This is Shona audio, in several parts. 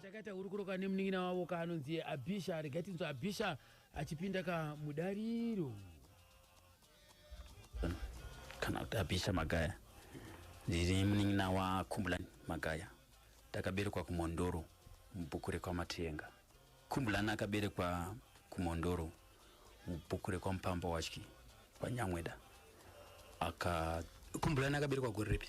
chakaita hurukuro ka nemunin'ina wavo kaanonzi abhisha regai tinzwa abhisha achipinda ka mudariro kana kuti abhisha magaya ndiri munin'ina wakhumbulani magaya takaberekwa kumondoro mubhuku rekwamatenga khumbulani akaberekwa kumondoro mubhuku rekwamupamba wachki kwanyamweda aka khumbulani akaberekwa gore ripi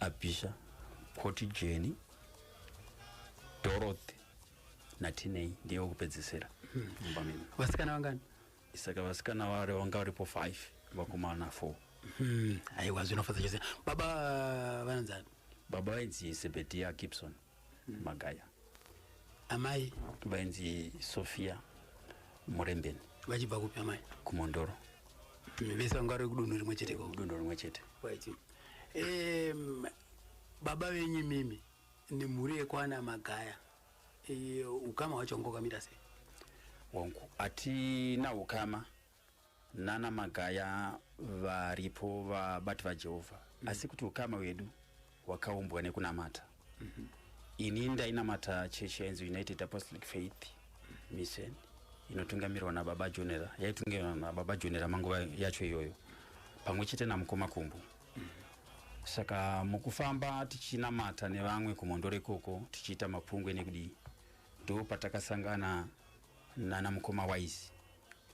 Abisha, Koti Jeni, Dorothy naTinei ndiye wekupedzisira mumba mino. Vasikana vangani? Saka vasikana vari vanga varipo 5 vakomana 4. Hmm, aiwa zvinofadza chose. Baba vananzani? Baba vainzi Sebediah Gibson. magaya amai vainzi sofia murembeni vachibva kupi amai kumondoro hmm, vese vanga vari kudunhu rimwe chete kudunhu rimwe chete baba venyu mimi nemhuri yekwana magaya e, ukama hwacho wangokamira sei wangu hatina ukama nana magaya varipo vabati vajehovha mm. asi kuti ukama hwedu hwakaumbwa nekunamata mm -hmm. ini ndainamata chechi yainzi united apostolic faith mission inotungamirwa nababa jonera yaitungamirwa nababa jonera manguva yacho iyoyo pamwe chete namukoma kumbu mm -hmm saka mukufamba tichinamata nevamwe kumhondoro ikoko tichiita mapungwe nekudii ndo patakasangana nana mukoma wise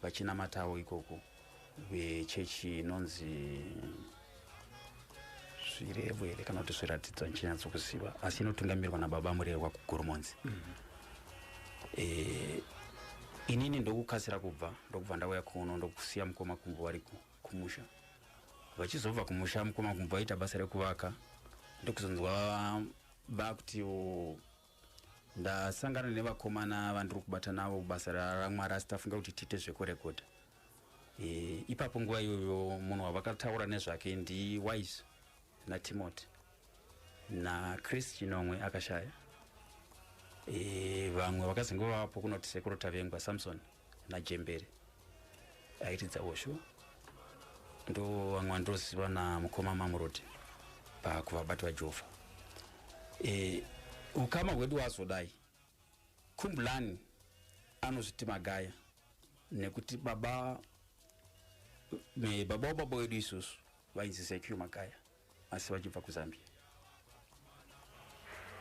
vachinamatawo ikoko vechechi inonzi zvirevo here kana kuti zviratidzo handichinyatsokuziva asi inotungamirwa nababa murehwa kugoromonzi mm -hmm. e, inini ndokukasira kubva ndokubva ndauya kuno ndokusiya mukoma kumbo vari kumusha vachizobva kumusha mukoma kumbo vaita basa rekuvaka ndokuzonzwa vakuti ndasangana nevakomana vandiri kubata navo basa ramwari asi tafunga kuti tiite zvekurekodha e, ipapo nguva iyoyo munhu wavakataura nezvake ndiwise natimoti nachris chinomwe akashaya e, vamwe vakazenge vavapo kunoti sekuru tavengwa samson najembere aitidza hosho ndo vamwe vandoziva namukoma mamuroti pakuvabati vajehovha e, ukama hwedu wazodai kumbulani anozviti magaya nekuti baba baba wababa wedu isusu vainzi sekiu magaya asi vachibva kuzambia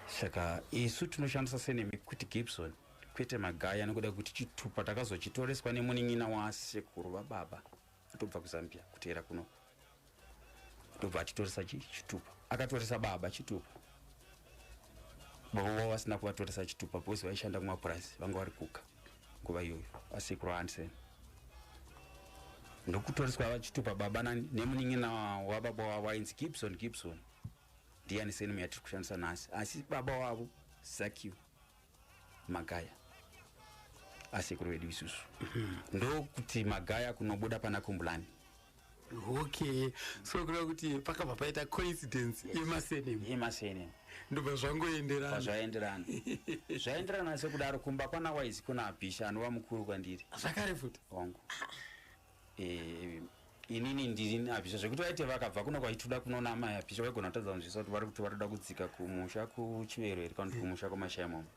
saka isu tinoshandisa senemi kuti gibson kwete magaya nekuda kuti chitupa takazochitoreswa nemunin'ina wasekuru vababa atobva kuzambia kuteera kuno ndobva achitoresa chitupa akatoresa baba chitupa baba vavo vasina kuvatoresa chitupa because vaishanda kumapurazi vanga vari kuka nguva iyoyo asekuru hansen ndokutoriswa vachitupa baba nemunin'ina wababa wavo ainzi gibson gibson ndiyani senemu yatiri kushandisa nhasi asi baba wavo zakiu magaya asekuru vedu isusu ndokuti magaya kunobuda pana kumbulani okay so kureva kuti pakabva paita coincidence yemasenemu yemasenemu ndobva zvangoenderana pazvaenderana zvaenderana sekudaro kumba kwana wise kuna abhisha anova mukuru kwandiri zvakare futi hongu eh, inini ndini abhisha zvekuti vaite vakabva kuno kwaituda kunoona amai abhisha vaigona kutadza kunzvisa kuti vari kuti vari kuda kudzika kumusha kuchiverweri kana kuti kumusha kwamashaya mama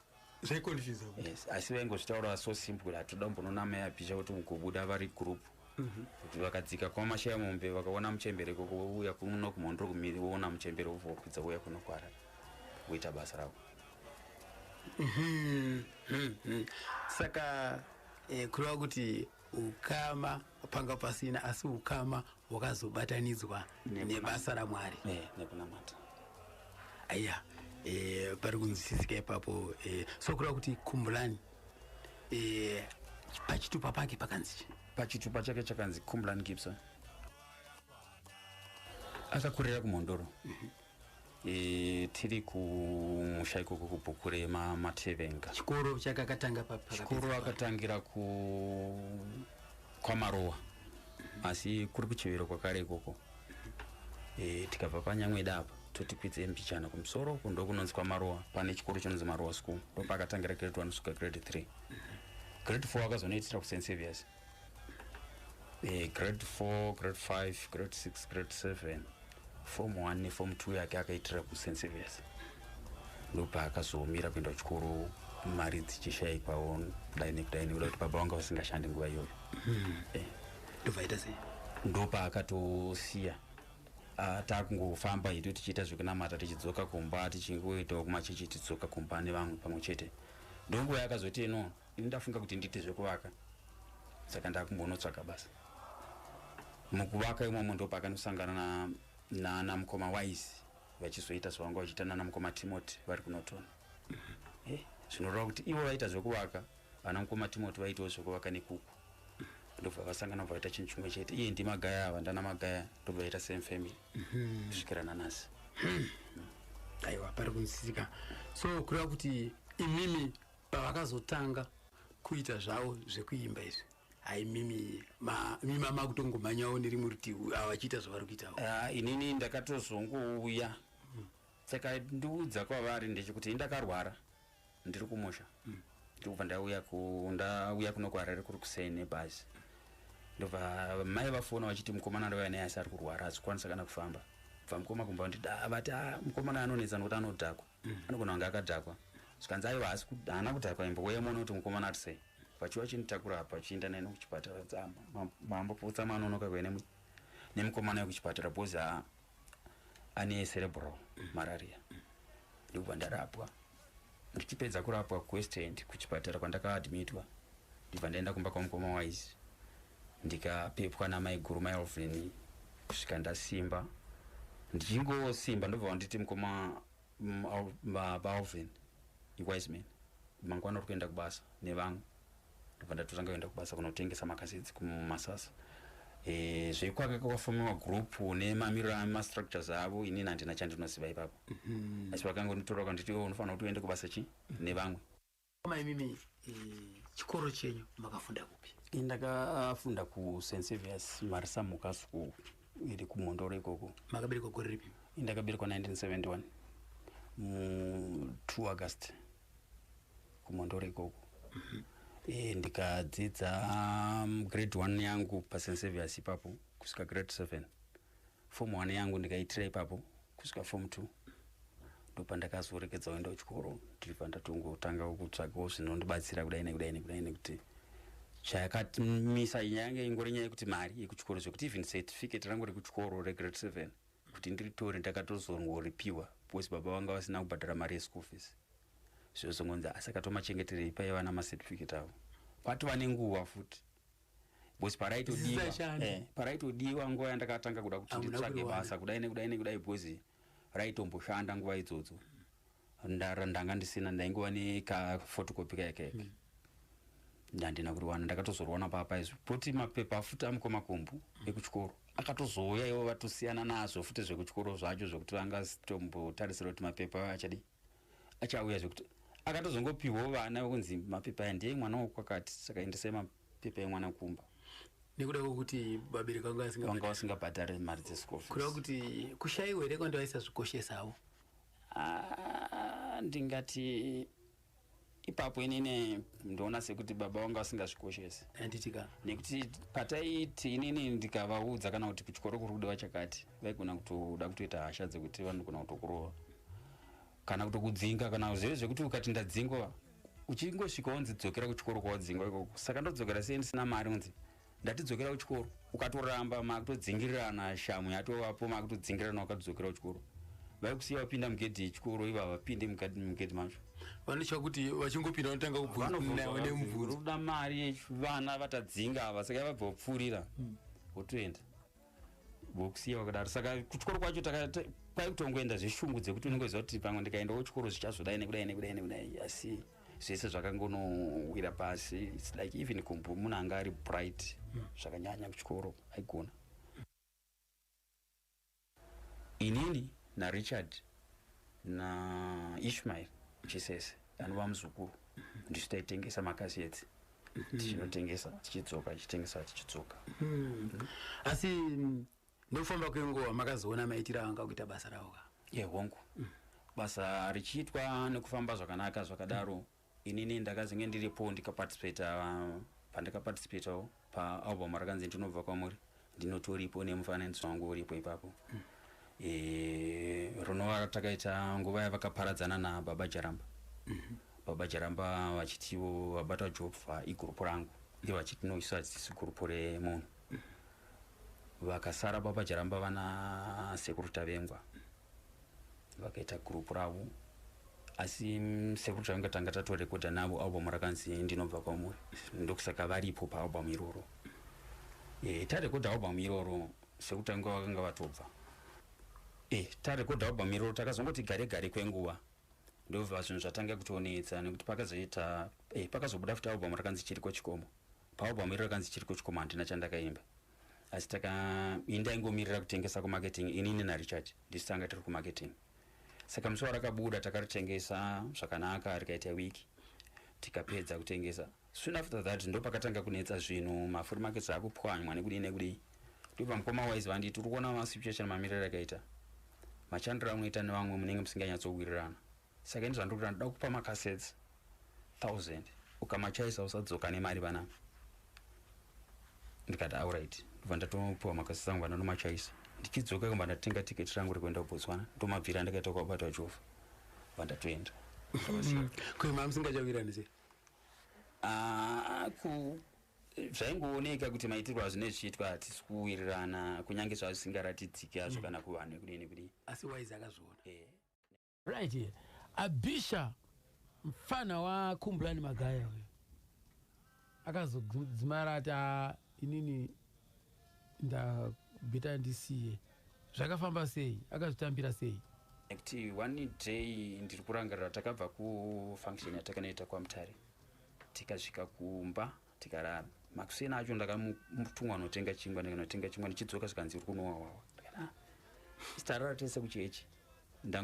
zvaikonfuse yes asi vaingozvitaura so simple kuti hatoda mbononamai apisha kuti mukubuda vari group mhm. kuti vakadzika kuma mashaya mombe vakaona muchembere koko vouya kuno kumhondro kumiri voona muchembere vobva vakwidza vouya kuno kwara voita basa ravo mhm, mhm, saka eh, kureva kuti ukama panga pasina asi ukama hwakazobatanidzwa nebasa ramwari eh, nekunamata aya e, pari kunzwisisika ipapo e, so kureva kuti kumbulani e, pachitupa pake pakanzi chi pachitupa chake chakanzi kumbulani gibson akakurira kumhondoro mm -hmm. E, tiri kumusha ikoko kubhukure mamatevenga chikoro chake akatanga chikoro akatangira ku kwamarowa asi kuri kuchivero kwakare ikoko e, tikabva panyamweda apa toti kwidze mbichana kumusoro uku ndokunonzi kwamarowa pane chikoro chinonzi marowa school ndopakatangira grade one kusvika grade three grade four akazonoitira kusensevious mm -hmm. Eh, grade 4 grade 5 grade 6 grade 7 form 1 neform 2 yake akaitira kusen service ndopaakazomira kuenda kuchikoro mari dzichishaikwawo kudai nekudai nekuda kuti baba vanga vasingashandi nguva iyoyo hmm. eh. ndovaita sei ndopaakatosiya ah, takungofamba hedu tichiita zvekunamata tichidzoka kumba tichingoitawo kumachechi tidzoka kumba nevamwe pamwe chete ndonguva yakazoti inoona ini ndafunga kuti ndiite zvekuvaka saka ndakumbonotsvaga basa mukuvaka imomo ndopakanosangana nana mukoma wise vachizoita zvavanga vachiita nana mukoma timoti vari kunotona mhm. eh, zvinoreva kuti ivo vaita zvekuvaka vana mukoma timoti vaitawo zvekuvaka nekuku ndobva vasangana bva vaita chinhu chimwe chete iye ndimagaya ava ndana magaya ndobva vaita same family mhm. kusvikira nanasi mhm. aiwa pari kunsisika so kureva kuti imimi pavakazotanga kuita zvavo zvekuimba izvi hai mimi mima makutongomanyawo nerimwe rutivi ava vachiita zvavari kuitawo ah, inini ndakatozongouya saka ndiudza kwavari ndechekuti ini ndakarwara ndiri kumusha hmm. ndikubva ndauya ndauya kuno kuharare kuri kusei nebhazi ndobva mai vafona vachiti mukomana ndovaya naye asi ari kurwara hazikwanisa kana kufamba bva mukoma kumba ndida vati ah, mukomana anonetsa nokuti anodhakwa mm. anogona kunge akadhakwa zvikanzi aiwa haasi haana kudhakwa imbo uye muone kuti mukomana ati sei vachiwa chinditakura apa chienda neni kuchipatara dzama mambo putsa manonoka kuve nemukomana yekuchipatara bhozi haa ane cerebral mararia ndikubva ndarapwa ndichipedza kurapwa kuwestend kuchipatara kwandakaadmitwa ndibva ndaenda kumba kwamukoma wise ndikapepwa namaiguru maelvin kusvika ndasimba ndichingosimba ndobva vanditi mukoma valvin iwiseman mangwana uri kuenda kubasa nevamwe ndobva ndatotanga kuenda kubasa kunotengesa makazidzi kumasasa e, zvekwaka kwakafomiwa group nemamiriro amastructures avo inini handina chandinoziva ipapo mhm. asi vakangonditora kanditi oh, unofanira kuti uende kubasa chi nevamwe Koma imimi eh, chikoro chenyu makafunda kupi? Eh, ndakafunda uh, ku St Saviours Marisa Muka School iri kumhondoro ikoko. Makaberekwa gore ripi? Eh, ndakaberekwa 1971 mu 2 August kumhondoro ikoko. Mm -hmm. E, ndikadzidza um, grade 1 yangu pa St Saviours ipapo kusvika grade 7. form one yangu ndikaitira ipapo kusvika form two ndopandakazorekedza kuenda kuchikoro ndibva ndatongotangawo kutsvagawo zvinondibatsira kudai nekudai nekudai nekuti chayakatimisa yange ingori nyaya yekuti mari yekuchikoro zvekuti even certificate rangu rekuchikoro regrade seven kuti ndiritore ndakatozongoripiwa because baba vanga vasina kubhadhara mari yeschool fees zvozongonzi asi akatomachengeterei paiva namacertificate avo kwatova nenguva futi because paraitodiwa eh, paraitodiwa nguva yandakatanga kuda kuti nditsvage basa kudai nekudai nekudai because raitomboshanda nguva idzodzo ndanga ndisina ndaingova nekafotokopi kayekeke mm. ndandina kuriwana ndakatozoriwana papa izvo poti mapepa afuti amukoma kumbu mm. ekuchikoro akatozouya ivo vatosiyana nazvo futi zvekuchikoro zvacho zvekuti vangatombotarisira kuti mapepa ayo achadii achauya zvekuti akatozongopihwawo vana vekunzi mapepa aya ndiye mwana wokwakati saka endesai mapepa emwana kumba nekuda kwekuti vabereki vanga vasingabhadhare mari dzeschool kureva kuti kushaiwa here kwandi vaisazvikoshesawo ah, ndingati ipapo inini ndoona sekuti baba vanga vasingazvikoshesi anditika nekuti pataiti inini ndikavaudza kana kuti kuchikoro kuri kudiwa chakati vaigona kutoda kutoita hasha dzekuti vanogona kutokurova kana kutokudzinga kana zvive zvekuti ukati ndadzingwa uchingosvika wonzi dzokera kuchikoro kwawadzingwa ikoko saka ndodzokera sei ndisina mari unzi ndatidzokera kuchikoro ukatoramba makutodzingirirana shamhu yatovapo makutodzingirirana wakatodzokera kuchikoro vaikusiya vapinda mugedhi yechikoro iva vapinde mugedhi macho vanochava kuti vachingopinda vanotanga kubvunzanawe nemubvunzo kuda mari yevana vatadzinga ava saka vabva vapfuurira hmm. votoenda vokusiya wakadaro saka kuchikoro kwacho kwaikutongoenda zveshungu dzekuti unenge uziva kuti pamwe ndikaendawo chikoro zvichazodai nekudai nekudai nekudai asi zvese zvakangonowira pasi its like even kumbu munhu anga ari bright hmm. zvakanyanya kuchikoro aigona inini narichard naishmael chisese anova muzukuru hmm. ndisu taitengesa makaseti mhm. tichinotengesa tichidzoka tichitengesa tichidzoka mhm. asi mm, nekufamba kwenguva makazoona maitiro anga kuita basa ravo ka ye hongu mm. basa richiitwa nekufamba zvakanaka zvakadaro mm. inini ndakazenge ndiripo ndikaparticipata uh, pandakaparticipatawo paalbum rakanzi ndinobva kwamuri ndinotoripo nemufananidzo wangu uripo ipapo mm. e, runova takaita nguva yavakaparadzana nababa jaramba mm -hmm. baba jaramba vachitiwo vabata jobva igurupu rangu ivo vachiti no isu hadzisi gurupu remunhu mm -hmm. vakasara baba jaramba vana sekuru tavengwa mm -hmm. vakaita group ravo asi mm, sekuru tanga tanga tatorekodha navo album rakanzi ndinobva kwamuri ndokusaka varipo paalbum iroro e, tarekodha album iroro sekuru tanga vakanga vatobva e, tarekodha album iroro takazongoti gare gare kwenguva ndobva zvinhu zvatanga kutonetsa nekuti pakazoita e, pakazobuda futi album rakanzi chiriko chikomo paalbum iro rakanzi chiriko chikomo handina chandakaimba asi taka ini ndaingomirira kutengesa kumarketing inini narichard ndisu tanga tiri kumarketing saka musi warakabuda takaritengesa zvakanaka rikaita week tikapedza kutengesa soon after that ndo pakatanga kunetsa zvinhu mafuri markets akupwanywa nekudii nekudii ndobva mukoma wise vanditi uri kuona masituation mamiriro akaita machandiro anoita nevamwe munenge musinganyatsowirirana saka ini zvandiri kuda ndoda kupa macasets thousand ukamachaisa usadzoka nemari vana ndikati aurit ndobva ndatopiwa macasets angu vana ndomachaisa ndichidzoka kamba ndatenga tiketi rangu rekuenda kubotswana ndomabvira ndakaita kwabatwa jova bva ndatoenda mm-hmm. kuima musingachawirani se ah, ku zvaingooneka kuti maitirwo azvine zvichiitwa hatisi kuwirirana kunyange zvazvisingaratidziki azvo mm. kana kuvanhu kudini kudini asi waizi akazviona eh. Right here. Abisha mfana wa Kumbulani Magaya uyo. Akazodzimara ati ah, inini ndabita ndisiye. Zvakafamba sei? Akazvitambira sei? Nekuti one day ndiri kurangarira takabva kufunction yatakanoita kwaMutare tikasvika kumba tikarara makuseni acho ndakamutumwa anotenga chingwa ndikanotenga chingwa ndichidzoka zvikanzi uri kunowawawa ah, sitarara tese kuchechi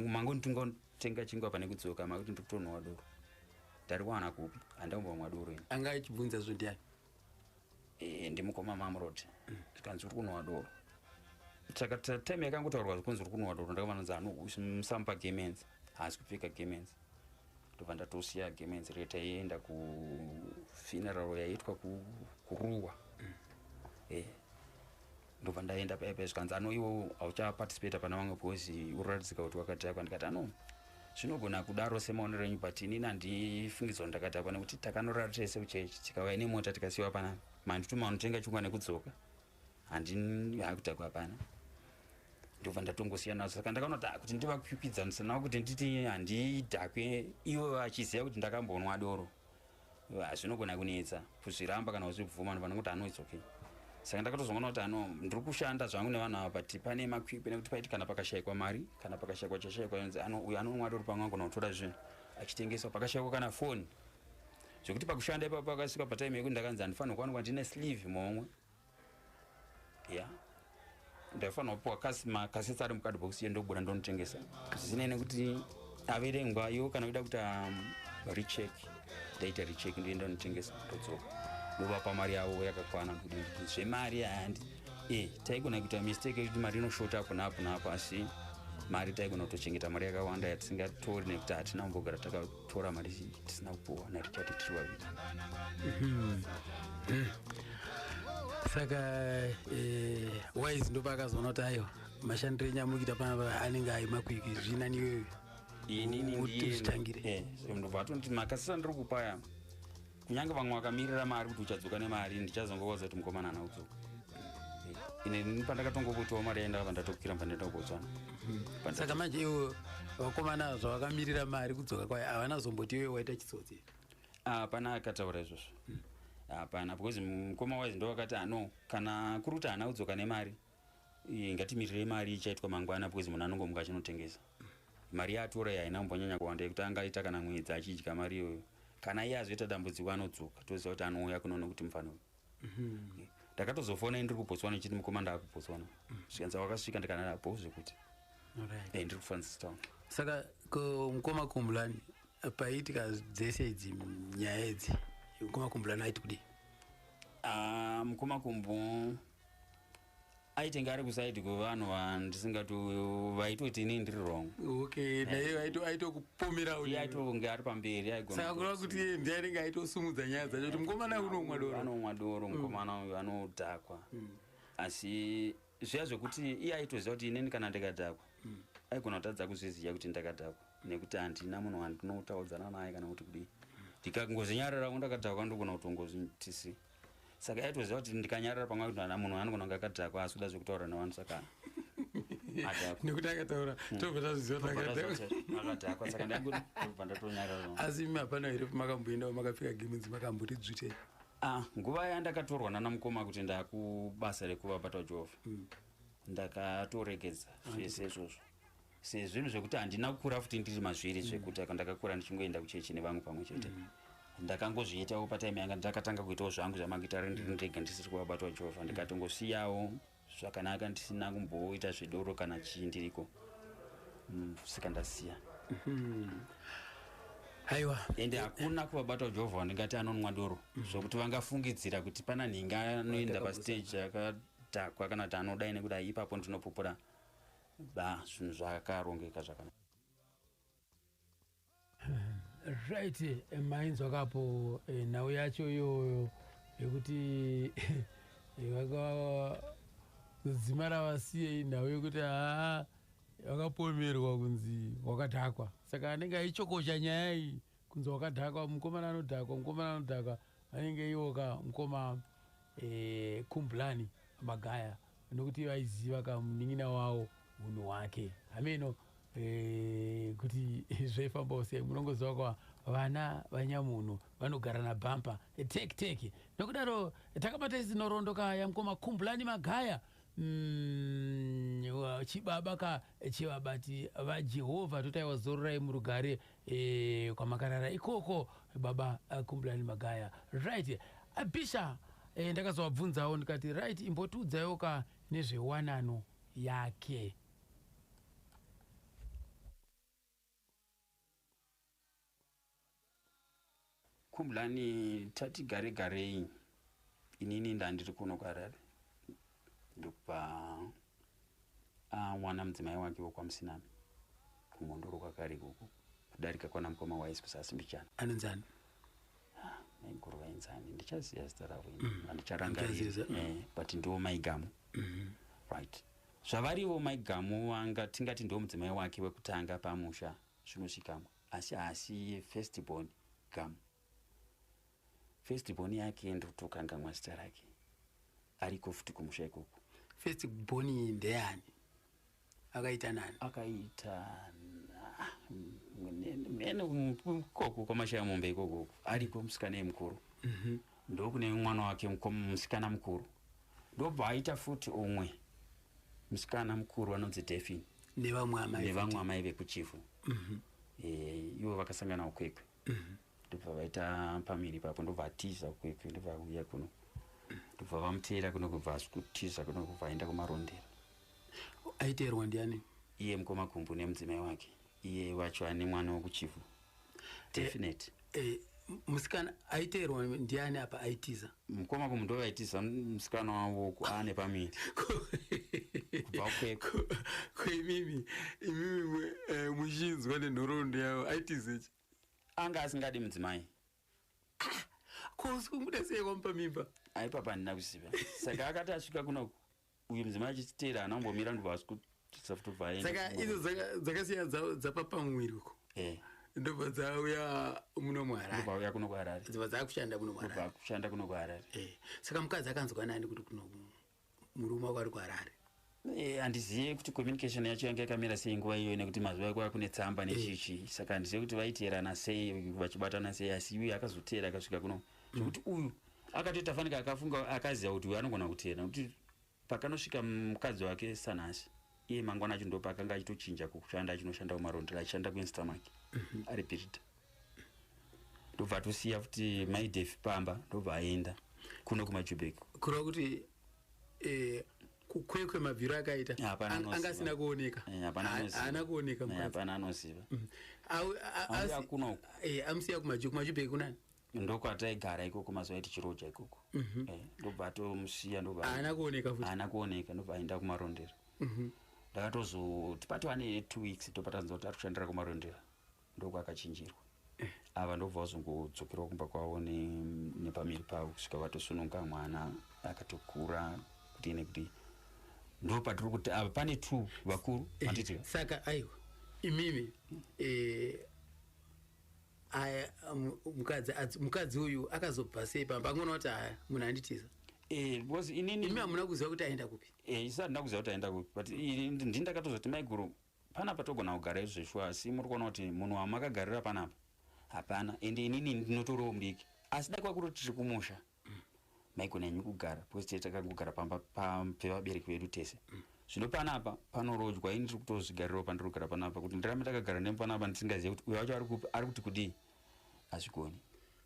mango nditunga kutenga chingwa pane kudzoka makuti ndiri kutonowa doro ndari kuwana kupi handambomwa doro ini anga ichibvunza zvo ndiani eh, ndimukoma mamrod mm. zvikanzi uri kunowa doro time yakangotaurwa zvikunzi uri kunowa doro ndakavanonzi anomusamupa gamenzi haasi kupfeka gamenzi ndobva ndatosiya game yenzira yataienda kufuneral yaiitwa kuruwa mm. e eh, ndobva ndaenda paya paya zvikanzi ano iwo hauchaparticipata pana vamwe because uratidzika kuti wakatakwa ndikati ano zvinogona kudaro semaonero enyu but inini handifungidzwa ndakatakwa nekuti takanorara tese kuchechi tikauya nemota tikasiwa panapa mandituma anotenga chingwa nekudzoka handini hakuta kwapana ndobva ndatongosiya nazo saka ndakaona kuti ah, kuti ndivakukwikwidzanisanavo kuti nditi handidhakwe ivo vachiziva kuti ndakambonwa doro hazvinogona ah, kunetsa kuzviramba kana kuzvibvuma ndobva ndikuti anoits okay saka ndakatozoona kuti ano ndiri kushanda zvangu nevanhu ava but pane makwikwi nekuti paiti kana pakashayikwa mari kana pakashayikwa chashayikwa yonzi ano uyo anonwa doro pamwe angona kutora zvinhu achitengeswa pakashayikwa kana foni zvekuti pakushanda ipapo pakasvika pataime yekuti ndakanzi handifanirwa kuwanikwa ndine sleeve momwe ya ndaifanira kupiwa kasi makasesa ari mukadhibhokisi yendobuda ndonotengesa zvisinei nekuti averengwa yo kana kuda kuti um, rechek ndaita rechek ndiye ndonotengesa ndodzoka ndovapa mari yavo yakakwana kuti zvemari handi e eh, taigona kuita mistake yekuti mari inoshota apo naapo naapo asi mari taigona kutochengeta mari yakawanda yatisingatori nekuti hatina kumbogara taka tora mari zhinji tisina kupuwa narichard tiri vaviri mhm. mhm. saka eh, wise ndopakazoona kuti ayo mashandiro enyu amukita panapa anenge ayi makwiki zvinani iyoyo inini ndiyezvitangire eh, ndobva atonoti makasisa ndiri kupayama kunyange vamwe vakamirira mari kuti uchadzoka nemari ndichazongovaudza kuti mukomana ana kudzoka ini pandakatongopotiwa mari yaenda apa ndatokwira pandaenda kubotswana saka manje iwo vakomana zvavakamirira mari kudzoka kwayo havana zomboti iwe waita chitsotsi hapana akataura izvozvo hapana because mukoma wise ndo vakati ano kana kuri kuti haana kudzoka nemari Eh, ngatimirirei mari ichaitwa mangwana because munhu anongomuka achinotengesa mari yaatora iyi haina kumbonyanya kuwanda yekuti anga aita kana mwedzi achidya mari iyoyo kana iye azoita dambudziko anodzoka toziva kuti anouya kuno nekuti mufana uyu Mhm. ndakatozofona ndiri kubotswana ndichiti mukoma ndaakubotswana zvikanzi wakasvika ndikanana bo zvekuti Alright. eh, ndiri kufrancis town saka ko mukoma kumbulani paiitika dzese idzi nyaya idzi mukoma kumbulani aiti kudii Ah, mukoma kumbu aitenge ari kusaidi kwevanhu vandisingati vaitoti inini ndiri wrong okay eh. naye aitokupomera uyu aitonge ari pamberi aigona kureva kuti iye ndiye anenge aitosumudza nyaya dzacho kuti mukomana uyu unomwa doro anomwa doro mm. mukomana uyu anodhakwa mm. asi zviya zvekuti iye aitoziva kuti inini kana ndikadhakwa mm. aigona kutadza kuzviziva kuti ndakadhakwa nekuti handina munhu wandinotaudzana naye kana kuti kudii ndikangozvinyarira kundakadhakwa ndogona kutongozvitisi saka yaitoziva kuti ndikanyarara pamwe kuti ana munhu anogona kunge akadhakwa asi kuda zvekutaura nevanhu saka nekuti akataura hmm. tobva tazviziva akadhakwa saka ndaibva ndatonyarara asi imi hapana here makamboendawo makapfeka gemenzi makamboti dzvite ah, nguva yandakatorwa nana mukoma kuti ndakubasa rekuva bata jehova hmm. ndakatoregedza zvese izvozvo sezvinhu zvekuti handina kukura futi ndiri mazviri mm. zvekuti mm. ndakakura ndichingoenda kuchechi nevamwe pamwe chete mm. ndakangozviitawo patime yanga ndakatanga kuitawo zvangu zvamagitare ndiri mm. ndega ndisiri kuvabatwa jehovha mm. ndikatongosiyawo zvakanaka ndisina kumboita zvedoro kana chii ndiriko mm, saka ndasiya mm -hmm aiwa ende hakuna kuvabatwa jehovha wandingati anonwa doro mhm. zvokuti vangafungidzira kuti pana nhinga anoenda pastage akadhakwa kana kuti anodai nekuda ipapo ndinopupura Ba, zvinhu zvakarongeka zvakanaka. Right, eh, mainzwa kapo eh, nhau yacho iyoyo yekuti eh, vaka dzima ravasiyei nhau yekuti haa vakapomerwa kunzi wakadhakwa saka anenge aichokosha nyaya iyi kunzi wakadhakwa mukomana anodhakwa mukomana anodhakwa vanenge iwo ka mukoma eh, kumblani magaya nokuti vaiziva ka munin'ina wawo unhu wake hameno eh, kuti zvaifambawo sei munongoziva kwa vana vanyamunhu vanogara nabhampa teki teki nokudaro takabata izinorondo ka yamukoma kumblani magaya Mm, chibaba ka chevabati vajehovha totaiwa zororai murugare e, kwamakarara ikoko baba uh, kumbulani magaya right uh, bisha e, ndakazovabvunzawo ndikati right imbotiudzaiwo ka nezvewanano yake Khumblani tati gare garei inini ndandiri kuno kuharare ndokubva awana ah, mudzimai wake wekwamusinami kumhondoro kwakare ikoko kudarika kwana mukoma waisi kusasi mbichana anenzani ah, maiguru vaenzani ndichaziva zita ravo ini mm. andicharangarira mm. eh, but ndiwo maigamu mm-hmm. right zvavarivo maigamu wanga tingati ndiwo mudzimai wake wekutanga pamusha zvinosvikamwa asi haasi ye first born gamu first born yake ndotokangamwa zita rake ariko futi kumusha ikoko first born ndeyani akaita nani akaita mene ikoko kwamashaya mombe ikoko ariko musikana yemukuru mhm. ndokune mwana wake musikana mukuru ndobva aita futi umwe musikana mukuru anonzi defin nevamwe amai vekuchifu mhm. eh, ivo vakasangana ukwekwe mhm. ndobva vaita pamiri papo ndobva atiza ukwekwe ndobva auya kuno ndobva vamuteera kuno kubva asikutiza kuno kubva aenda kumarondera aiteerwa ndiani iye mukoma gumbu nemudzimai wake iye wacho ane mwana wokuchifu definite eh, eh, musikana aiteerwa ndiani apa aitiza mukoma kumu ndo vaitiza musikana wavo aane pamiri kubva kweko koimimi imimi eh, muchinzwa nenhoroondo yavo aitizechi anga asingadi mudzimai ah, ko usikunguda sei kwamupa mimba aipapa handina kuziva saka akati asvika kunoku uyu mudzimai achititeera ana kumbomira ndobva asi kutisa futi bva saka idzo dzakasiya dzapa pamuviri uko eh. ndobva dzauya muno muharareuya kuno kuharare dzobva dzakushanda kuno kuharare kushanda kuno kuharare eh. saka mukadzi akanzwa nani kuti kuno murume wako ari kuharare Eh, handizive kuti communication yacho yanga yakamira sei nguva iyoyo nekuti mazuva ekuva kune tsamba nechichi eh. saka handizive kuti vaiteerana sei vachibatana sei asi iuye akazoteera akasvika kuno zvekuti mm. uyu akatoita fanika akafunga akaziva kuti uyu anogona kuteera nekuti pakanosvika mukadzi wake sanhasi iye mangwana acho ndopa akanga achitochinja kushanda achinoshanda kumarondera achishanda kuinstamak mhm. ari pirita ndobva atosiya futi maidef pamba ndobva aenda kuno kumajubek kureva kuti eh, kukwekwe mabviro akaita anga asina kuoneka eh, haana kuoneka eh, hapana anoziva mm. amusiya kumajubek kunani ndokwataigara ikoko mazuva aiti chiroja ikoko mhm. eh, ndobva atomusiya ndobaana kuoneka futi haana kuoneka ndobva aenda kumarondera mhm. ndakatozoti patova ne two weeks ndobva tanzwa kuti ari kushandira kumarondera ndoko akachinjirwa eh. ava ndobva vazongodzokerwa kumba kwavo nepamiri pavo kusvika vatosununga mwana akatokura kuti ne kuti ndo patiri kuti ava pane two vakuru eh, saka aiwa imimi aya um, mukadzi adzi- mukadzi uyu akazobva sei pamba angoona kuti aya munhu anditiza Eh, because inini imi hamuna kuziva kuti aenda kupi Eh, isati ndakuziva kuti aenda kupi but ini ndi- ndini ndakatozoti maiguru panapa togona kugara izvo zveshuwa asi muri kuona kuti munhu wamakagarira panapa hapana ende inini ndinotoriwo mbiki asi dai kwakuti tiri kumusha maigona henyu kugara because tee takangogara pamba pevabereki vedu tese zvino panapa panorodzwa ini ndiri kutozvigarirawo pandiri kugara panapa kuti ndirame takagara nemu panapa ndisingazive kuti uyo wacho ari kupi ari kuti kudii hazvigoni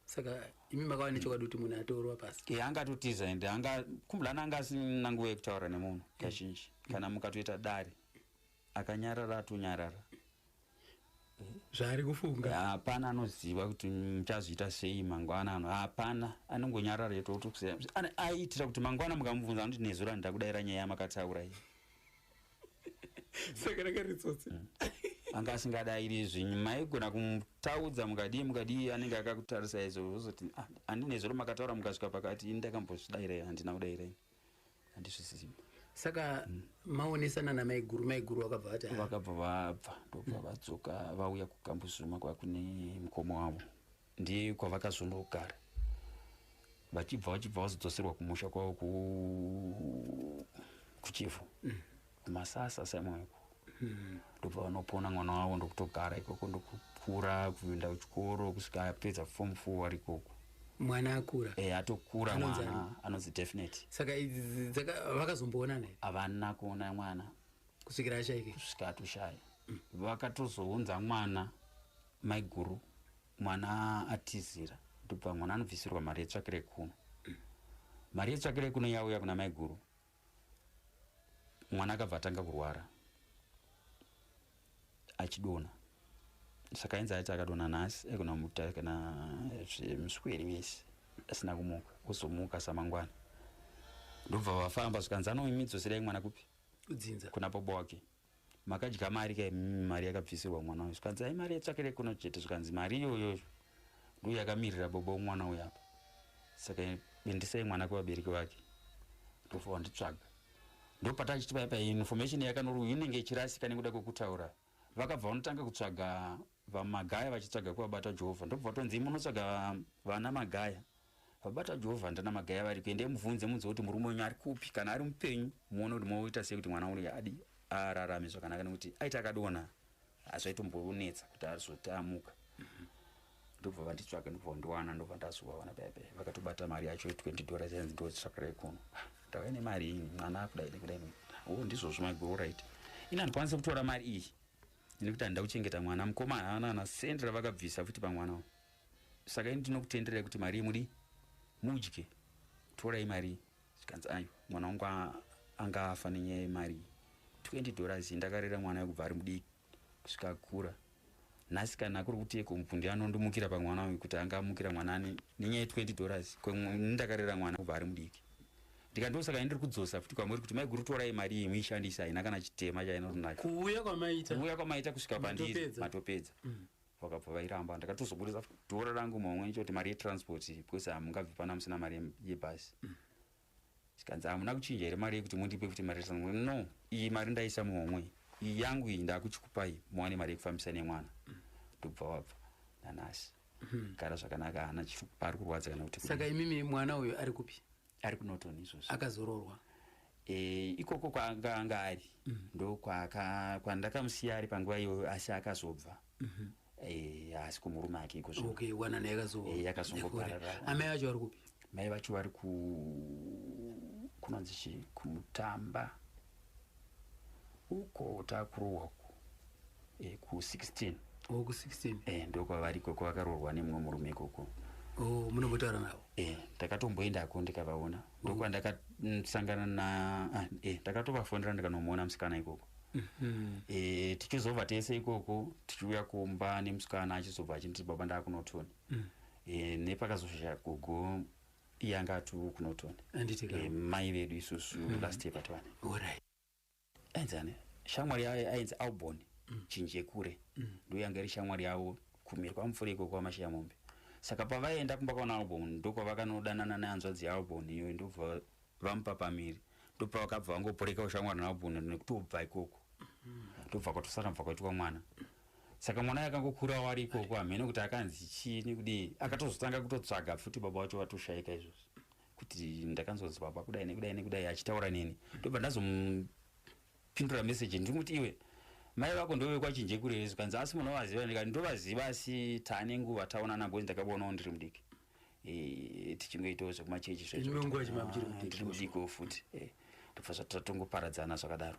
saka imi makava nechokwadi kuti munhu atorwa pasi e anga atotiza ende anga kumbulana anga asina nguva yekutaura nemunhu kazhinji kana mukatoita dare akanyarara atonyarara zvaari kufunga hapana anoziva kuti muchazviita sei mangwana ano hapana anongonyarara yetoaitira kuti mangwana mukamubvunza anoti nezuro andida kudaira nyaya yamakataura iyi saka ranga ritsotsi mm. anga asingadairi zvinyu maigona kumutaudza mukadii mukadii anenge akakutarisai zozoti ah, andinezuro makataura mukasvika pakati ini ndakambozvidairai handina kudairai handizvisisimba saka mm. maonesana namaiguru maiguru vakabva vati vakabva vabva ndobva mm. vadzoka vauya kukambuzuma kwakune mukoma wavo ndiye kwavakazonogara vachibva vachibva vazodzoserwa kumusha kwavo kuchivhu mm. kumasasa saimweko hmm. ndobva vanopona mwana wavo ndokutogara ikoko ndokukura kuenda kuchikoro kusvika apedza form four wari ikoko mwana akura e, atokura mwana anonzi definite saka vakazomboonana havana kuona mwana kusvikira ashaike kusvika atoshaya mm. vakatozounza mwana maiguru mwana atizira ndobva mwana anobvisirwa mari yetsvakire kuno mm. mari yetsvakire kuno yauya kuna maiguru mwana akabva atanga kurwara achidona saka ainzi aiti akadona nhasi aigona kumuta kana musweri mese asina kumuka ozomuka samangwana ndobva vafamba zvikanzi anoimidzosira imwana kupi kudzinza kuna bobo wake makadya mari ka mm, mari yakabvisirwa mwana uyu zvikanzi ai mari yatsvakire kuno chete zvikanzi mari iyoyo ndiyo yakamirira bobo wemwana uyu apa saka bendisai mwana kwevabereki vake ndofa wanditsvaga ndopata chiti paya paya information yakanori uyu inenge ichirasika nekuda kwekutaura vakabva vanotanga kutsvaga VaMagaya vachitsvaga kuvabata Jehova ndobva vatonzi munotsvaga vana Magaya vabata Jehova ndana Magaya vari kuendai mubvunze munzwe kuti murume wenyu ari kupi kana ari mupenyu muone kuti moita sei kuti mwana uyu adi ararame zvakanaka nekuti aita akadona hazvaitombonetsa kuti azoti amuka ndobva vanditsvaga ndobva vandiwana ndobva ndazovawana bebe vakatobata mari yacho 20 dollars yanzi ndotsvakarai kuno ndauya nemari iyi mwana akudai nekudai o oh, ndizvozvo maiguru right ini handikwanise kutora mari iyi ini kuti handida kuchengeta mwana mukoma haana ana sendi ravakabvisa futi pamwana wo saka ini ndinokutenderai kuti mari yemudi mudye torai mari zvikanzi ayo mwana wangu anga afa nenyaya yemari 20 dollars ndakarera mwana yekubva ari mudiki kusvika akura nhasi kana kuri kuti eko mupundi anondimukira pamwana uyu kuti anga amukira mwana ane nenyaya ye 20 dollars ndakarera mwana kubva ari mudiki ndikati ndosaka ini ndiri kudzosa futi kwamuri kuti maiguru torai mari iyi muishandise haina kana chitema chainotonaka kuuya kwamaita kuuya kwamaita kusvika pandiri Matopedza. matopedza Mm. vakabva vairamba ndakatozoburitsa futi dora rangu maumwe ndicho kuti mari yetransport iyi, because hamungabvi pana musina mari yem- yebhasi zvikanzi hamuna kuchinja here mari yekuti mundipe futi mari yetransport no iyi mari ndaisa muhomwe iyi yangu iyi ndakuchikupai muwane mari yekufambisa nemwana ndobva wabva nanasi gara zvakanaka hana chiri- pari kurwadza kana kuti saka imimi mwana uyu ari kupi ari kunoton izvozvo akazororwa e, ikoko kwaanga anga ari mm -hmm. ndokwandakamusiya ari panguva iyoyo asi akazobva mm -hmm. e, asi kumurume ake ikozvo okay, wana naye yakazongoparara e, amai vacho vari kupi mai vacho vari ku kunonzi chii kumutamba uko takurohwa ku eh, ku 16 oh, ku 16 eh, ndokwavari ikoko vakaroorwa nemumwe murume ikoko oh, munombotaura navo eh, ndakatomboendako ndikavaona oh. ndokwa ndakasangana na ah, eh, ndakatovafonera ndikanomuona musikana ikoko Mm -hmm. e, tichizobva tese ikoko tichiuya kumba nemusikana achizobva achinditi baba ndakunotoni mm. e, nepakazoshaya gogo iye anga ati uku norton Anditi ka- Eh, mai vedu isusu last year pativane Alright. enzane shamwari yaye ainzi albon chinjekure ndiuya ngeri shamwari yavo kumhiri kwamupfuri iko kwamashiya mombe saka pavaenda kumba kwaona albon ndokwavakanodanana nehanzvadzi yaalbon iyoyo ndobva vamupa pamiri ndopavakabva vangoporekawo shamwari naalbon nekutobva ikoko ndobva kwatosara bva kwaitwa mwana saka mwana yakangokurawo ari ikoko hamheno kuti akanzi chii nekudii akatozotanga kutotsvaga futi baba vacho vatoshayika izvozvi kuti ndakanzonzi baba kudai nekudai nekudai achitaura neni ndobva ndazomupindura meseji ndiri kuti iwe mai vako ndovekwachinje kurereso kanzi asi munovaziva ndikati ndovaziva asi taane nguva taonana bcoz ndakabonawo ndiri mudiki eh, tichingoitawo zvekumachechi zvezvotiri mudiko futi eh, tobva zvatongoparadzana zvakadaro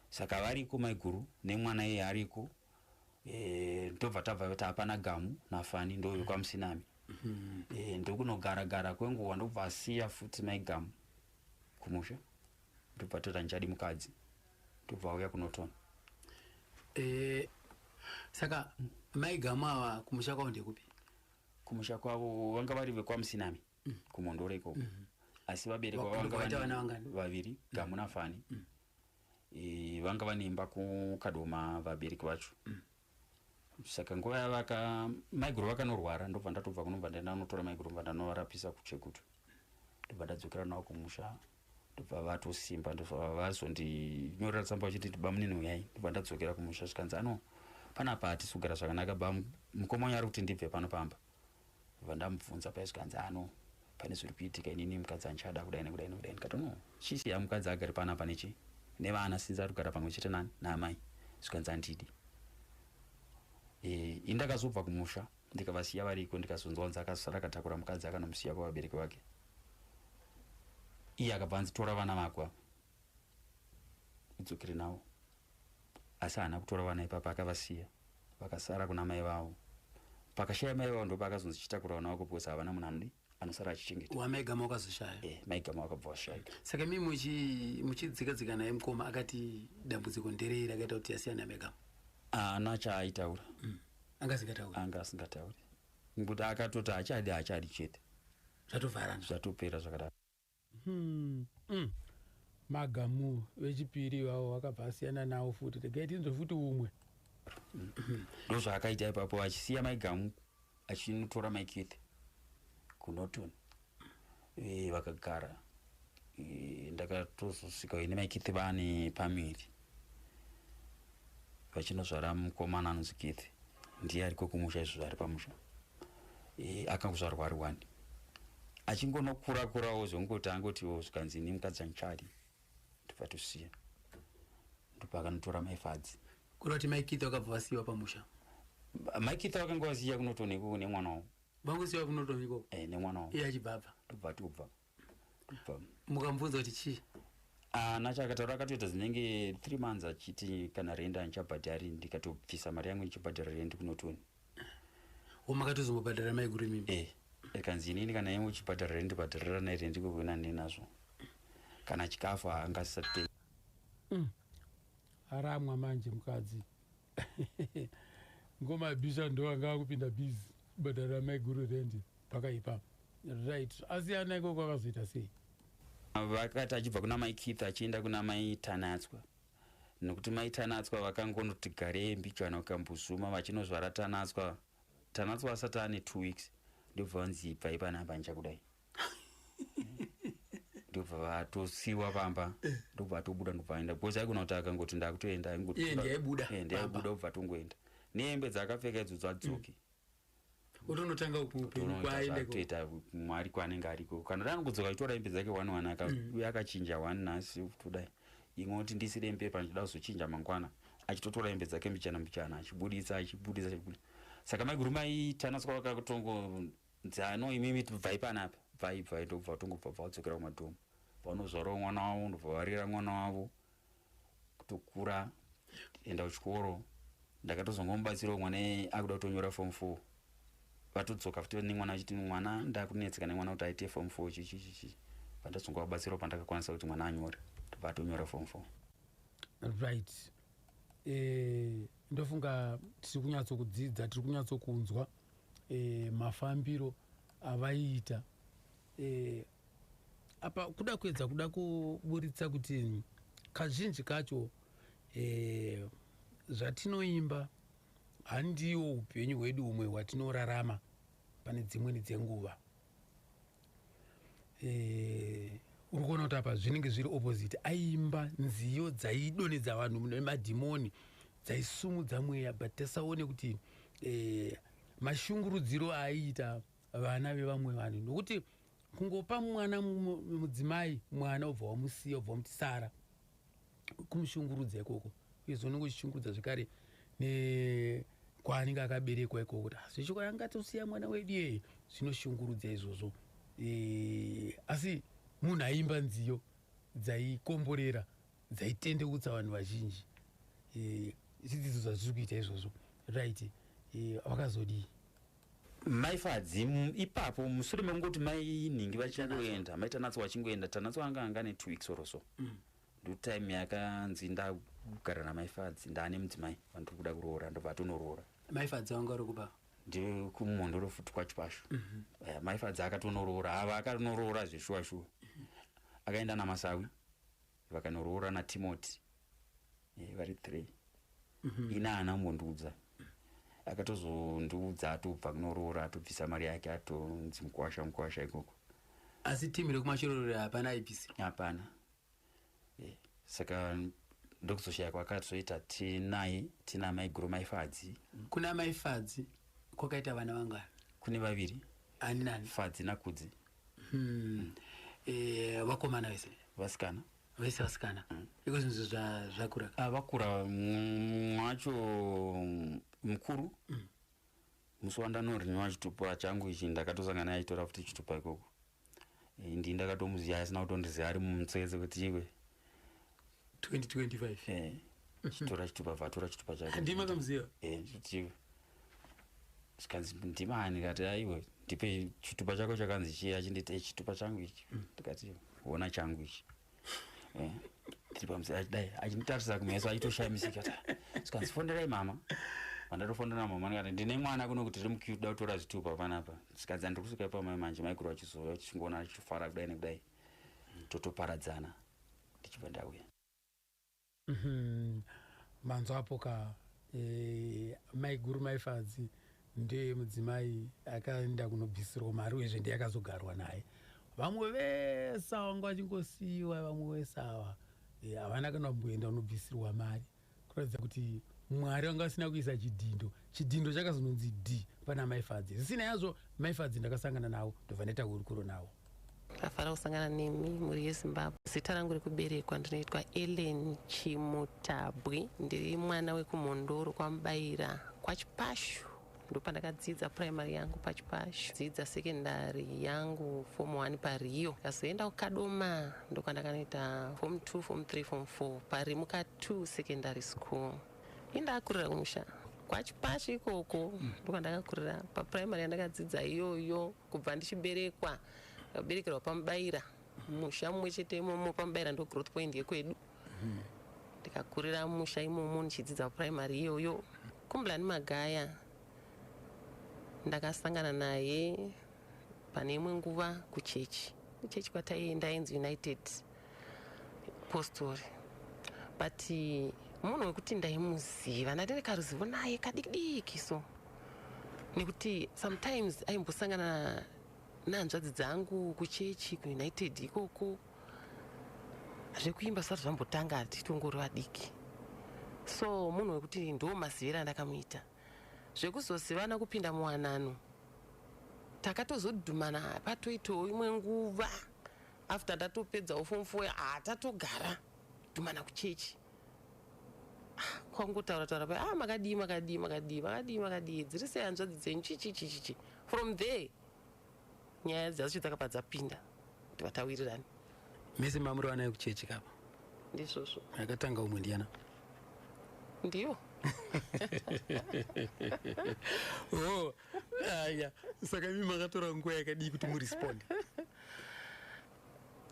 saka variko maiguru nemwana iye ariko eh, ndobva tabva kuti hapana gamu nafani ndovekwamusinami mm-hmm. eh, ndokunogara gara kwenguva ndobva asiya futi maigamu kumusha ndobva tora njadi mukadzi ndobva auya kunotona eh, saka maigamu ava kumusha kwavo ndekupi kumusha kwavo vanga vari vekwamusinami mm. kumondoro ikoko mm -hmm. asi vabereki vavanga vaviri mm. gamu nafani mm. e, vanga vane imba kukadoma vabereki vacho mm. saka nguva yavaka maiguru vakanorwara ndobva ndatobva kunobva ndanotora maiguru bva ndanovarapisa kuchekutu ndobva ndadzokera navo kumusha ndobva vatosimba ndobva vazondinyorera tsamba vachiti ndibamunini uyai ndobva ndadzokera kumusha zvikanzi ano panapa hatisi kugara zvakanaka ba mukoma wanyu ari kuti ndibve pano pamba ndobva ndamubvunza paya zvikanzi ano pane zviri kuitika inini mukadzi andichada kudai nekudai nekudai ndikati no chisiya mukadzi agari panapa nechi nevana sinzi ari kugara pamwe chete nani naamai zvikanzi andidi e, indakazobva kumusha ndikavasiya variko ndikazonzwanzi akasara akatakura mukadzi akanomusiya kwavabereki vake iye akabva anzi tora vana vako ava udzokere navo asi haana kutora vana ipapa akavasiya vakasara kuna mai vavo pakashaya mai vavo ndopaakazonzi chitakura vana vako because havana munhu anodi anosara achichengeta wamaigama wakazoshaya e, maigama wakabva washaika saka mi muchidzika dzika naye mukoma akati dambudziko nderei rakaita kuti asiyana maigama haana chaaitaura mm. anga asingatauri anga asingatauri Ngokuti akatoti hachadi hachadi chete. Zvatovharana. Zvatopera zvakadaro. Hmm. Mm. Magamu vechipiri ivavo vakabva asiyana nawo futi. Regai tinzwe futi umwe. Ndozvaakaita ipapo achisiya Mai Gamu achinotora Mai Keith kuNorton. e, vakagara e, ndakatozosvika ine makithi vane pamiri vachinozvara mukomana anonzi kithi ndiye ariko kumusha izvo zvari pamusha e, akakuzvarwa ari wani achingonokura kurawo zvongoti angoti oh, zvikanzi ini mukadzi anchadi ndobva tosiya ndopakanotora maifadzi kurati maikitha wakabva vasiyiwa pamusha maikitha wakanga vasiya kunotonekunemwana wavo Vakuziva kunotonga ikoko. Eh, nemwana wangu. Iye achibva apa. Tobva tobva. Tobva. Mukamubvunza kuti chii? Ah, nacho akataura akatoita zinenge 3 months achiti kana renda ndichabhadhari ndikatobvisa mari yangu ndichibhadhara rendi kunotoni. Womakatozongobhadhara mai guri mimi. Eh. Ekanzi inini kana yemu chibhadhara rendi bhadharira naye rendi koko ina ndinazvo. Kana chikafu angasate. Mm. Aramwa manje mukadzi. ngoma yabhisha ndo anga akupinda biz kubhadhara maiguru rendi pakaipa right asi ana ikoko akazoita sei vakati achibva kuna mai keith achienda kuna mai tanatswa nokuti mai tanatswa vakangonoti garei mbijana ukambuzuma vachinozvara tanatswa tanatswa asati ane two weeks ndobva vanzi ibvai panapa ndichakudai ndobva vatosiwa pamba eh. ndobva atobuda ndobva aenda because aikona kuti akangoti ndakutoenda aingotndaibuda eh, eh, kubva atongoenda nehembe dzaakapfeka idzo dzadzoki mm. utonotanga kutoita mwari kwaanenge ariko kana dani kudzoka itora hembe dzake one one mm. uye akachinja one nhasi kutodai imwe kuti ndisire hembe pa ndida kuzochinja mangwana achitotora hembe dzake mbichana mbichana achibuditsa achibuditsa achibuditsa saka maiguru maitanaskwa vakatongo Dzano imimi bvai panapa bvai bvai ndobva tongobva bva kudzokera kumadhomu vanozvarawo mwana wavo ndobva varera mwana wavo kutokura enda kuchikoro ndakatozongomubatsirawo mwana akuda kutonyora form four vatodzoka futi nemwana achiti mwana ndakunetseka nemwana kuti aite form four chichichichi vandazongovabatsirawo pandakakwanisa kuti mwana anyore ndobva atonyora form four right eh, ndofunga tiri kunyatsokudzidza tiri kunyatsokunzwa e, mafambiro avaiita e, apa kuda kuedza kuda kuburitsa kuti kazhinji kacho e, zvatinoimba handiwo upenyu hwedu humwe hwatinorarama pane dzimweni dzenguva eh, uri kuona kuti apa zvinenge zviri opposite aimba nziyo dzaidonedza vanhu nemadhimoni dzaisumudza mweya but tasaone kuti eh, mashungurudziro aiita vana vevamwe vanhu nokuti kungopa mwana mudzimai mwana obva wamusiya obva wamuti sara kumushungurudza ikoko uye zvono kuchishungurudza zvekare nekwaanenge akaberekwa ikoko kuti ah, zvechoko yangatosiya mwana wedu yeye zvinoshungurudza izvozvo e, asi munhu aimba nziyo dzaikomborera dzaitendeutsa vanhu vazhinji e, zvidzidzo zvazviri kuita izvozvo right e, vakazodii mai fadzi ipapo musure mekungoti mai nhingi vachingoenda mai tanatso vachingoenda tanatso anga anga ne two weeks or so mm. ndotime yakanzi ndagara namai fadzi ndaane mudzimai vandiri kuda kuroora ndobva atonoroora mai fadzi vanga uri kuba ndiri kumhondoro futi kwacho pacho mm -hmm. uh, eh, mai fadzi akatonoroora ava akatonoroora zveshuwa shuwa mm -hmm. akaenda namasawi vakanoroora natimoti eh, vari three mm -hmm. ina haana kumbondiudza akatozondiudza atobva kunoroora atobvisa mari yake atonzi mukwasha mukwasha ikoko asi timu rekumashororera hapana aibvisa hapana eh, saka ndokuzoshaya kwakatoita tinaye tina mai guru mai fadzi kuna mai fadzi kwakaita vana vangani kune vaviri ani nani fadzi nakudzi hmm. eh, vakomana vese vasikana vese vasikana hmm. iko zvinhu zvakura ah, vakura mwacho mukuru hmm. musi wandanoriniwa chitupa changu ichi ndakatosangana aitora futi chitupa ikoko eh, ndi ndakatomuziva asina kutondiziva ari mumutsetse kuti iwe 2025 chitora chitupa vatora chitupa chake ndima kamuziva eh ndichiva zvikanzi ndimani kati aiwe ndipe chitupa chako chakanzi chii achinditi eh, chitupa changu ichi mm. ndikati hona changu ichi eh, tiri pamusira achidai achinditarisa kumeso achitoshamisika zvikanzi fonderai mama vandatofonera mama ndikati ndine mwana kuno kuti tiri mukuda kutora zvitupa panapa zvikanzi andiri kusvika pamai manje maikuru vachizouya vachingoona achitofara kudai nekudai totoparadzana ndichibva ndauya mhm. manzwa apo ka e, maiguru maifadzi ndiye mudzimai akaenda kunobvisirwa mari uyezve ndiye akazogarwa naye vamwe vese ava ngo vachingosiyiwa vamwe vese ava eh, havana kana kumboenda unobvisirwa mari kuratidza kuti mwari vanga vasina kuisa chidhindo chidhindo chakazononzi d pana maifadzi zvisina yazvo maifadzi ndakasangana navo ndobva ndaita hurukuro navo ndafara kusangana nemi mhuri yezimbabwe zita rangu rekuberekwa ndinoitwa ellen chimutabwi ndiri mwana wekumhondoro kwamubayira kwachipashu ndopandakadzidza primary yangu pachipashu dzidza secondary yangu form 1 pariyo kazoenda kukadoma ndokwandakanoita form 2 form 3 form 4 pari muka 2 secondary school indakurira kumusha kwachipashu ikoko mm. ndokwandakakurira paprimary yandakadzidza iyoyo kubva ndichiberekwa kaberekerwa pamubaira musha mumwe chete imomo pamubaira ndo growth point yekwedu ndikakurira musha imomo ndichidzidza primary iyoyo kumblani magaya ndakasangana naye pane imwe nguva kuchechi kuchechi kwataienda ainzi united postori but munhu wekuti ndaimuziva ndati ndikaruzivo naye kadikidiki so nekuti sometimes aimbosangana nehanzvadzi dzangu kuchechi kuunited ikoko zvekuimba zvisati zvambotanga tichitongori vadiki so munhu wekuti ndo maziviro andakamuita zvekuzozivana kupinda muwanano takatozodhumana patoitawo imwe nguva after ndatopedzawo fom fo ah, tatogara dhumana kuchechi ah, kwangotaura taura pa ah, makadii makadii makadii makadii makadii dziri sei hanzvadzi dzenyu chichichichichi from there nyaya dzacho dzakabva dzapinda kuti vatawirirane mese mamurovana yekuchechi kapa ndizvozvo akatanga umwe ndiyana ndiyo oh, aya saka imi makatora nguva yakadii kuti muresponde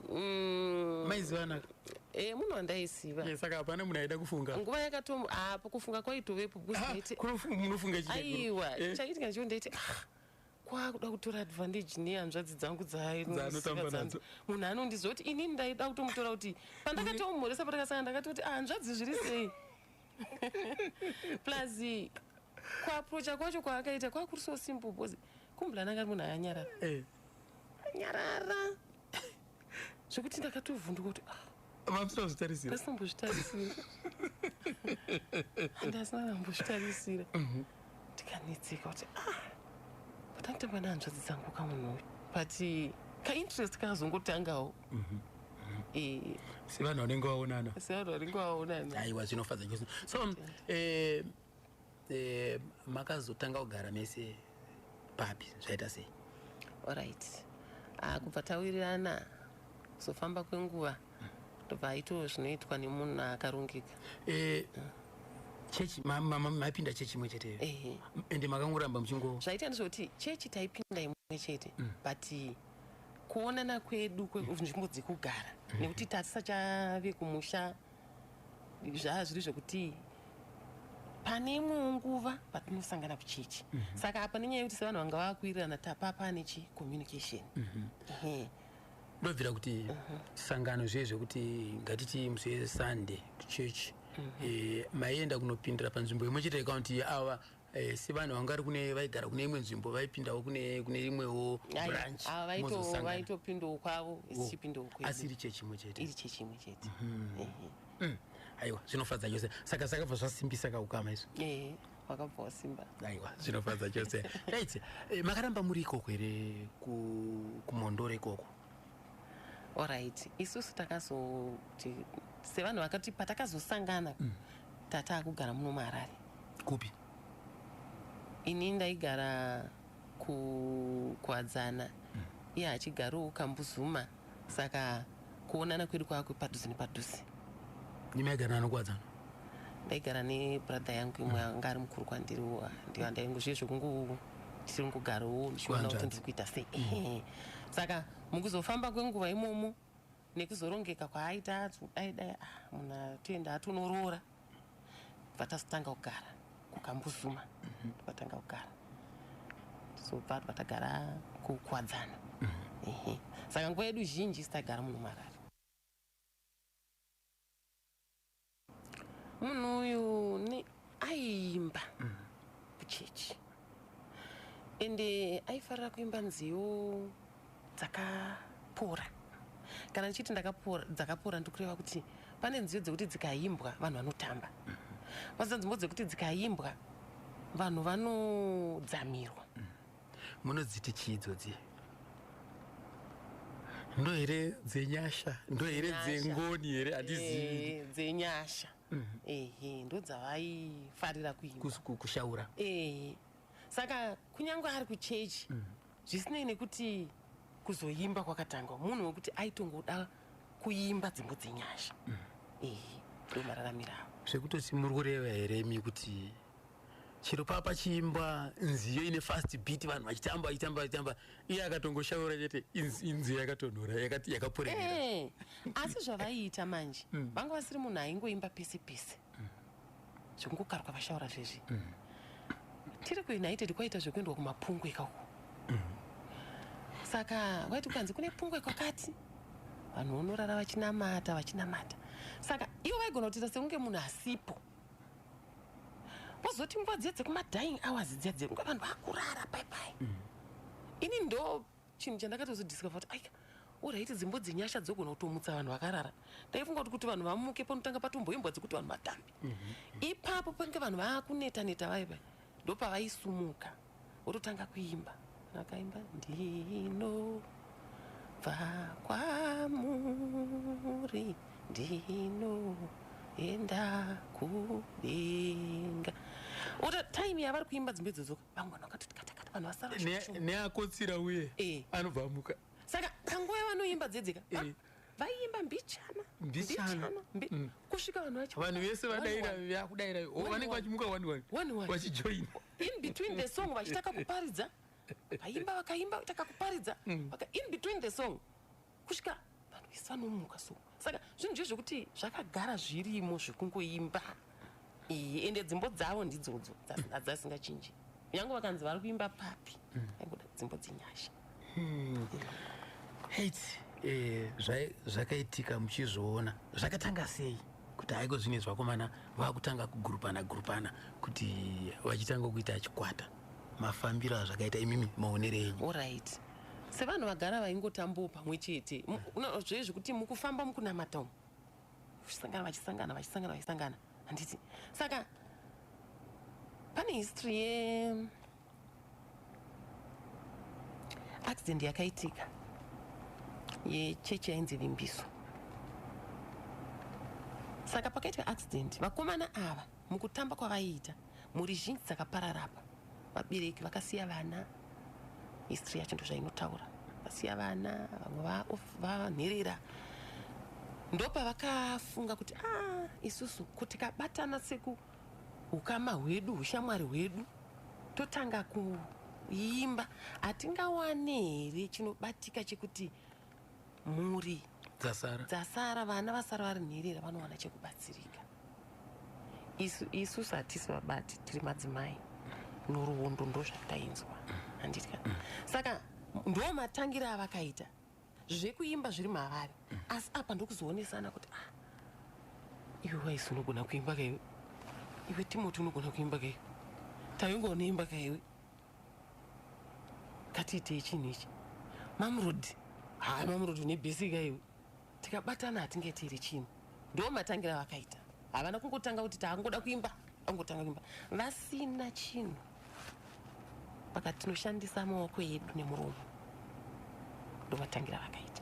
mm. maizivanaka e eh, munhu wandaiziva eh, saka hapana munhu aida kufunga nguva yakatom apo ah, kufunga kwaitovepo ah, munofunga aiwa eh. chaitika ndicho ndaiti ah, kwakuda kutora advantage nehanzvadzi dzangu dzaanotambanaadzo munhu anondiziva kuti inini ndaida kutomutora kuti pandakatoumhoresa patakasanga ndakati kuti ahanzvadzi ah, zviri sei plus kuaprocha kwacho kwaakaita kwakuri so simple bcause kumbulana ngari munhu ayanyarara eh. anyarara zvekuti ndakatovhunduka kuti ah, vapsina zvitarisira asina mbozvitarisira handi asina kana mbozvitarisira mhm. ndikanetseka kuti ah, patanditamba nehanzvadzi dzangu kamunhu uyu but kainterest kazongotangawo mhm. Eh. sevanhu vanenge vaonana sevanhu vanenge vaonana aiwa zvinofadza chose so um, eh, Eh, makazotanga kugara mese papi zvaita sei orit ah, kubva tawirirana kuzofamba kwenguva ndobva aito zvinoitwa nemunhu akarongeka eh, chechi maipinda chechi imwe cheteyo ende makangoramba muchingo zvaita ndizvekuti chechi taipinda imwe chete mm. but kuonana kwedu kwenzvimbo dzekugara mm. nekuti tasisachave kumusha zvaa zviri zvekuti pane imwewo nguva patinosangana kuchechi mm -hmm. saka apa nenyaya yekuti sevanhu vanga vakuwirirana tapa pane chi communication mm -hmm. ndobvira kuti mm -hmm. sangano zviye zvekuti ngatiti musi yesunday kuchechi mm -hmm. e, eh, maienda kunopindira panzvimbo imwe chete yekaunti yeawa Eh, sevanhu vanga vari kune vaigara kune imwe nzvimbo vaipindawo kune kune imwewo branch ava vaito- mozosangana. vaitopindawo kwavo isi Oh, chipindawo kwedu asi iri chechi imwe chete iri chechi imwe chete Ehe. Mm, aiwa zvinofadza chose saka zvakabva zvasimbisa kaukama izvo ehe wakabva wasimba aiwa zvinofadza chose right eh, makaramba muri ikoko here ku- kumhondoro ikoko orit isusu takazoti sevanhu vakati patakazosangana mm. tataa kugara muno muharare kupi ini ndaigara kukwadzana mm. iye achigarowo kambuzuma saka kuonana kwedu kwakwe padhuze nepadhuze ndimaigara anokwadzana ndaigara nebrother yangu imwe mm. anga ari mukuru kwandiriwo ndiyo andaingozviye zvekungu tiri mukugarowo ndichiona kuti ndiri kuita sei mm. saka mukuzofamba kwenguva imomo nekuzorongeka kwaaita ati dai dai ah, munhu atoenda atonoroora vatazotanga kugara kukambuzuma mhm. vatanga kugara sobva vatagara kukwadzana mhm. saka nguva yedu zhinji sitagara munhu marari munhu uyu ni aiimba mm. kuchechi ende aifarira kuimba nziyo dzakapora kana ndichiti ndakapora dzakapora ndikureva kuti pane nziyo dzekuti dzikaimbwa vanhu vanotamba mm-hmm. vazita nzimbo dzekuti dzikaimbwa vanhu vanodzamirwa mm. munodziti chii idzodzi ndo here dzenyasha ndo here dzengoni here handizivi eh, dzenyasha mm. ehe ndo dzavaifarira kuikushaura ehe saka kunyange ari kuchechi mm. zvisinei nekuti kuzoimba kwakatangwa munhu wekuti aitongoda kuimba dzimbo dzenyasha mm. ehe ndomararamirawo zvekutoti muri kureva here mi kuti chero paa pachiimbwa nziyo ine fast beat vanhu vachitamba vachitamba vachitamba iye akatongoshaura chete inz- inziyo yakatonhora yakati- yakaporerera Eh, asi zvavaiita manje vanga vasiri munhu aingoimba pese pese zvekungokaruka vashaura zvezvi tiri kuunited kwaita zvekuendwa kumapungwe ikako saka waiti ukanzi kune pungwe kwakati vanhu vonorara vachinamata vachinamata saka ivo vaigona kutiita sekunge munhu asipo Pozoti nguva dziya dzekuma dying hours dziya dziya nguva vanhu vakurara pai pai. Mm. Ini ndo chinhu chandakatozo discover kuti aika uraiti dzimbo dzenyasha dzogona kutomutsa vanhu vakarara ndaifunga kuti kuti vanhu vamuke panotanga patomboimbwa dzekuti vanhu vatambe mhm. ipapo pange vanhu vaakuneta neta vaiva ndopavaisumuka wototanga kuimba akaimba ndino bva kwamuri ndino enda kudenga ota time yavari kuimba dzimbe dzodzoka vamwe vanhu vakatoti katakata vanhu vasara neakotsira uye eh. anobva amuka saka panguva yavanoimba dzedzeka eh. vaiimba mbichana mbichana mm. kusvika vanhu vacho vanhu vese vadaira vakudaira oh, vanenge vachimuka one one one one vachijoina in between the song vachitaka kuparidza vaimba vakaimba vachitaka kuparidza mm. in between the song kusvika vanhu vese vanomuka so saka zvinhu zve zvekuti zvakagara zvirimo zvekungoimba iyi ende dzimbo dzavo ndidzodzo hadzasingachinji nyange vakanzi vari kuimba papi mm. aingoda dzimbo dzenyasha hmm. hate Eh, zvakaitika muchizviona zvakatanga sei kuti haiko zvine zvakomana vakutanga kugurupana gurupana kuti vachitanga kuita achikwata mafambiro azvakaita imimi maonere enyu orit sevanhu vagara vaingotambawo pamwe chete zvoye zvekuti mukufamba mukunamata umu vachisangana vachisangana vachisangana vachisangana handiti saka pane history ye accident yakaitika yechechi yainzi vimbiso saka pakaitwa accident vakomana ava Mukutamba kwavaiita, mhuri zhinji dzakaparara apa. Vabereki vakasiya vana, history yacho ndozvainotaura. Vasiya vana, vamwe vanherera. Ndopa vakafunga kuti ah, isusu kuti kabatana seku ukama hwedu, hushamwari hwedu, totanga kuimba, hatingawane here chinobatika chekuti mhuri dzasara dzasara vana vasara vari nherera vanowana chekubatsirika isu isu satisi vabati tiri madzimai noruondo ndozvatainzwa handitya saka ndo matangira avakaita zvekuimba zviri mavari asi apa ndokuzoonesana kuti ah iwe waisi unogona kuimba kaiwe iwe timoti unogona kuimba kaiwe taingoona imba kaiwe ngatiitei chinhu ichi mamurodi haa mamurodi une bhesika iwe tikabatana hatinge tiri chinhu ndo matangira vakaita havana kungotanga kuti taangoda kuimba angotanga kuimba vasina chinhu paka tinoshandisa maoko edu nemuromo ndovatangira vakaita